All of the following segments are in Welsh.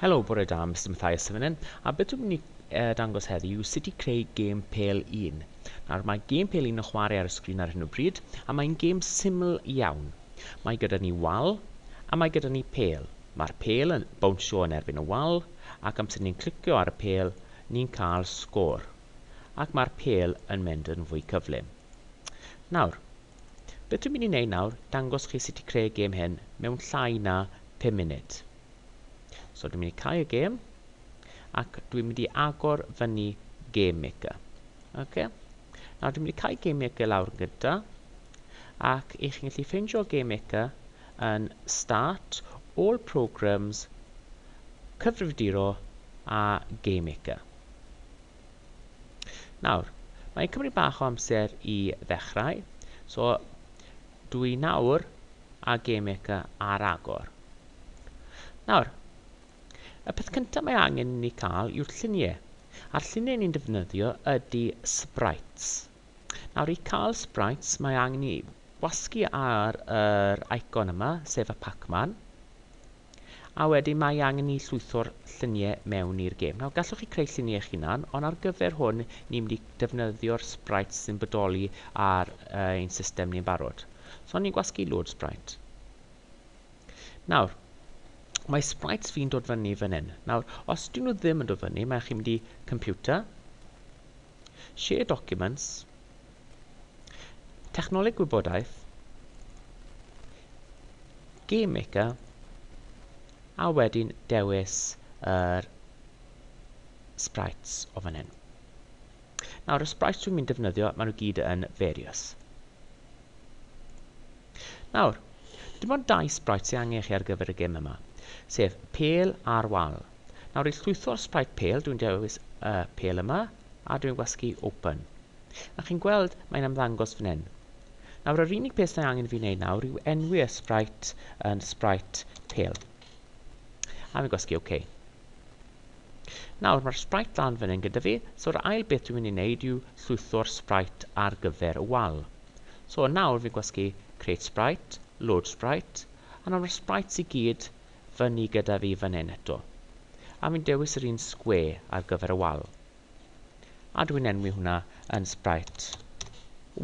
Helo, bore da, Mr Mathias Sefynen, a beth dwi'n mynd i uh, dangos heddi yw sut i creu gêm pel un. Nawr, mae gêm pel un yn chwarae ar y sgrin ar hyn o bryd, a mae'n gêm syml iawn. Mae gyda ni wal, a mae gyda ni pel. Mae'r pel yn bownsio yn erbyn y wal, ac amser ni'n clicio ar y pel, ni'n cael sgôr. Ac mae'r pel yn mynd yn fwy cyflym. Nawr, beth dwi'n mynd i wneud nawr, dangos chi sut i creu gêm hyn mewn llai na 5 munud. So dwi'n mynd i cau y gêm, ac dwi'n mynd i agor fyny Game Maker. Ok? Nawr dwi'n mynd i cau Game Maker lawr yn gyda, ac i chi'n gallu ffeindio Game Maker yn Start, All Programs, Cyfrifiaduro a Game Maker. Nawr, mae'n cymryd bach o amser i ddechrau, so Dw i nawr a GameMaker ar agor. Nawr, y peth cyntaf mae angen i ni cael yw'r lluniau, a'r lluniau ni'n defnyddio ydy sprites. Nawr i cael sprites mae angen i wasgu ar yr icon yma, sef y Pac-Man. A wedyn mae angen ni llwytho'r lluniau mewn i'r gêm. Nawr, gallwch chi creu lluniau eich hunan, ond ar gyfer hwn, ni'n mynd i defnyddio'r sprites sy'n bodoli ar uh, ein system ni'n barod. So, ni'n gwasgu load sprite. Nawr, mae sprites fi'n dod fyny fan hyn. Nawr, os dyn nhw ddim yn dod fyny, mae chi'n mynd i computer, Share documents, Technoleg gwybodaeth, Game Maker, a wedyn dewis yr sprites o fan hyn. Nawr, y sprites dwi'n mynd defnyddio, maen nhw gyd yn various. Nawr, dim ond dau sprites sy'n angen chi ar gyfer y gym yma, sef pel a'r wal. Nawr i llwytho'r sprite pale dwi'n dewis y pale yma a dwi'n gwasgu open. A chi'n gweld mae'n ymddangos fan hyn. Nawr yr unig peth sy'n angen i fi wneud nawr yw enwi y sprite yn sprite pale. A fi'n gwasgu OK. Nawr mae'r sprite lan fan hyn gyda fi, so'r ail beth dwi'n mynd i wneud yw llwytho'r sprite ar gyfer y wal. So nawr fi'n gwasgu create sprite, load sprite, a nawr mae'r sprites i gyd fyny gyda fi fan hyn eto, a fi'n dewis yr un sgwe ar gyfer y wal. A dwi'n enwi hwnna yn Sprite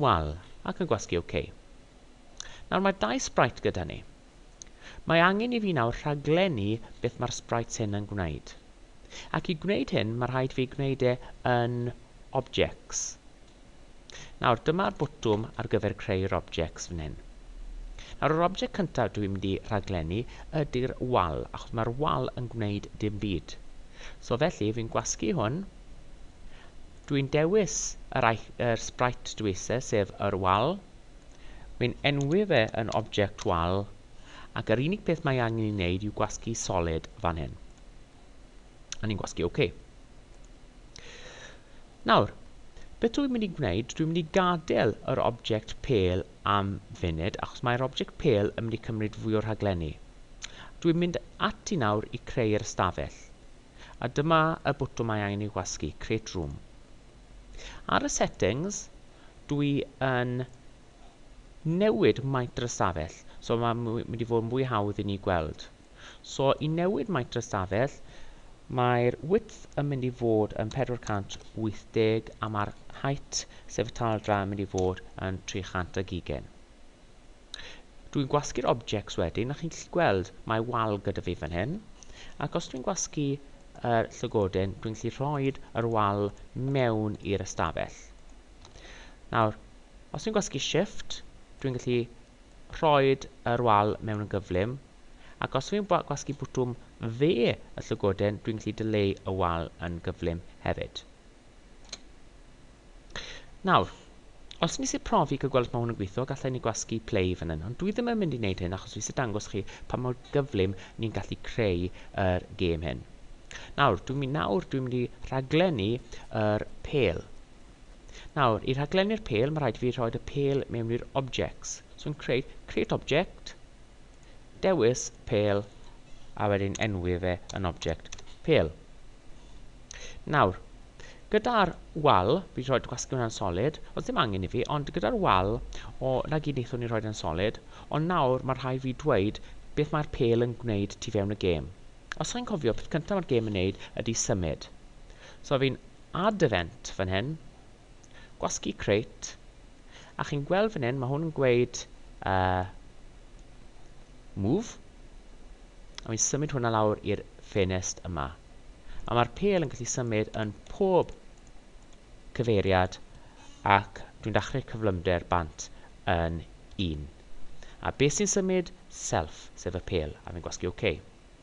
Wal, ac yn gwasgu OK. Nawr mae dau Sprite gyda ni. Mae angen i fi nawr rhaglennu beth mae'r Sprites hyn yn gwneud. Ac i gwneud hyn, mae rhaid fi gwneud e yn Objects. Nawr, dyma'r botwm ar gyfer creu yr objects fan hyn. Nawr, yr object cyntaf dwi'n mynd i rhaglennu ydy'r wal, achos mae'r wal yn gwneud dim byd. So felly, fi'n gwasgu hwn. Dwi'n dewis yr, yr sprite dwi eisiau, sef yr wal. Wi'n enwi fe yn object wal, ac yr unig peth mae angen i wneud yw gwasgu solid fan hyn. A ni'n gwasgu OK. Nawr, beth dwi'n mynd i gwneud, dwi'n mynd i gadael yr object pel am funud, achos mae'r object pel yn mynd i cymryd fwy o'r rhaglenni. Dwi'n mynd ati nawr i creu'r ystafell. A dyma y bwtwm mae angen i wasgu, Create Room. Ar y settings, dwi yn newid maint yr ystafell, so mae'n mynd i fod yn fwy hawdd i ni gweld. So i newid maint y stafell, mae'r width yn mynd i fod yn 480 a mae'r height, sef y taldra, yn mynd i fod yn 300 ag ugain. Dwi'n gwasgu'r objects wedyn, a chi'n gallu gweld mae wal gyda fi fan hyn, ac os dwi'n gwasgu yr llygoden, dwi'n gallu rhoi yr wal mewn i'r ystafell. Nawr, os dwi'n gwasgu shift, dwi'n gallu rhoi yr wal mewn yn gyflym, Ac os fi'n gwasgu bwtwm dde y llygoden, dwi'n gallu dileu y wal yn gyflym hefyd. Nawr, os nes i profi cael gweld os mae hwn yn gweithio, gallai ni gwasgu play fan hyn, ond dwi ddim yn mynd i wneud hyn achos fi eisiau dangos chi pa mor gyflym ni'n gallu creu yr gêm hyn. Nawr, dwi'n mynd nawr, dwi'n mynd i rhaglennu yr pel. Nawr, i rhaglennu'r pel, mae rhaid fi rhoi y pel mewn i'r objects. So yn creu, create object, Dewis pêl a wedyn enwi fe yn object pêl. Nawr, gyda'r wal, fi'n rhoi gwasgu hwnna'n solid, os ddim angen i fi, ond gyda'r wal, o, na gyd wnaethon ni rhoi yn solid, ond nawr mae rhai fi dweud beth mae'r pêl yn gwneud tu fewn y gêm. Os chi'n cofio, peth cyntaf mae'r gêm yn neud ydy symud. So fi'n add event fan hyn, Gwasgu crêt. A chi'n gweld fan hyn, mae hwn yn gweud uh, move. A fi'n symud hwnna lawr i'r ffenest yma. A mae'r pel yn gallu symud yn pob cyfeiriad ac dwi'n dachrau cyflymder bant yn un. A beth sy'n symud? Self, sef y pel, a fi'n gwasgu OK.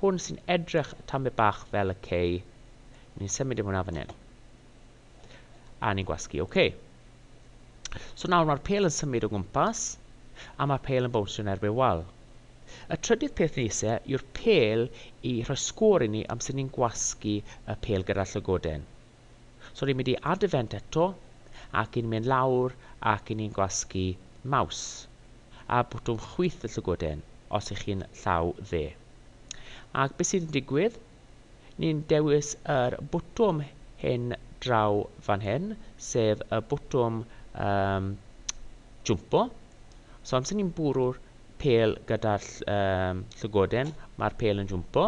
Hwn sy'n edrych tamed bach fel y cei. Ni'n symud i hwnna fan hyn. A ni'n gwasgu OK. So nawr mae'r pel yn symud o gwmpas a mae'r pel yn bownsio yn erbyn wal. Y trydydd peth ni eisiau yw'r pel i rhoi sgôr i ni am sut ni'n gwasgu y pel gyda'r llygoden. So ni'n mynd i add event eto, ac ni'n mynd lawr ac ni'n gwasgu maws a bwtwm chwith y llygoden os ych chi'n llaw dde. Ac beth sy'n digwydd? Ni'n dewis yr bwtwm hyn draw fan hyn, sef y bwtwm um, jwmpo. So amser ni'n bwrw'r pêl gyda'r llygoden, mae'r pêl yn jwmpo.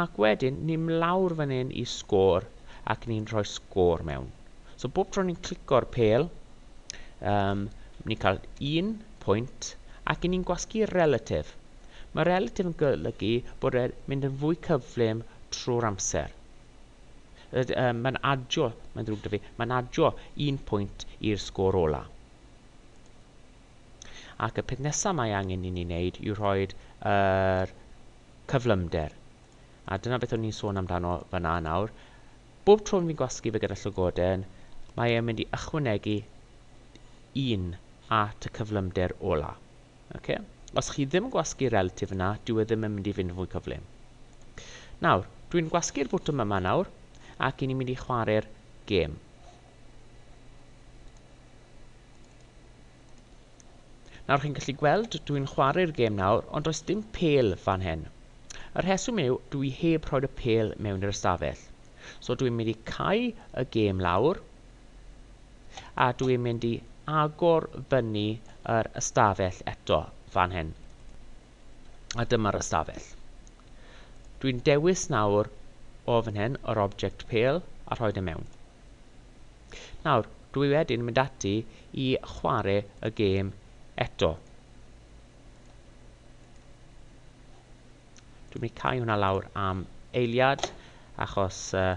Ac wedyn, ni'n mlawr fan hyn i sgôr ac ni'n rhoi sgôr mewn. So bob tro ni'n clico'r pêl, um, ni'n cael un pwynt ac ni'n gwasgu relatif. Mae relatif yn golygu bod e'n mynd yn fwy cyflym trwy'r amser. Um, mae'n adio, mae'n ddrwg da fi, mae'n adio un pwynt i'r sgôr ola. Ac y peth nesaf mae angen i ni wneud yw rhoi yr cyflymder. A dyna beth o'n i'n sôn amdano fyna nawr. Bob tro fi'n gwasgu fe gyda llygoden, mae e'n mynd i ychwanegu un at y cyflymder ola. Okay? Os chi ddim yn gwasgu relatif yna, dyw e ddim yn mynd i fynd fwy cyflym. Nawr, dwi'n gwasgu'r bwtwm yma nawr, ac i ni'n mynd i chwarae'r gêm. Nawr chi'n gallu gweld dw i'n chwarae'r gêm nawr ond does dim pêl fan hyn. Y rheswm yw dw i heb rhoi'r y pêl mewn i'r ystafell. So dw i'n mynd i cau y gêm lawr a dw i'n mynd i agor fyny yr ystafell eto fan hyn. A dyma'r ystafell. Dwi'n dewis nawr o fan hyn yr object pale a rhoi e mewn. Nawr, dwi wedyn mynd ati i chwarae y gêm eto. Dwi'n mynd i cau hwnna lawr am eiliad achos uh,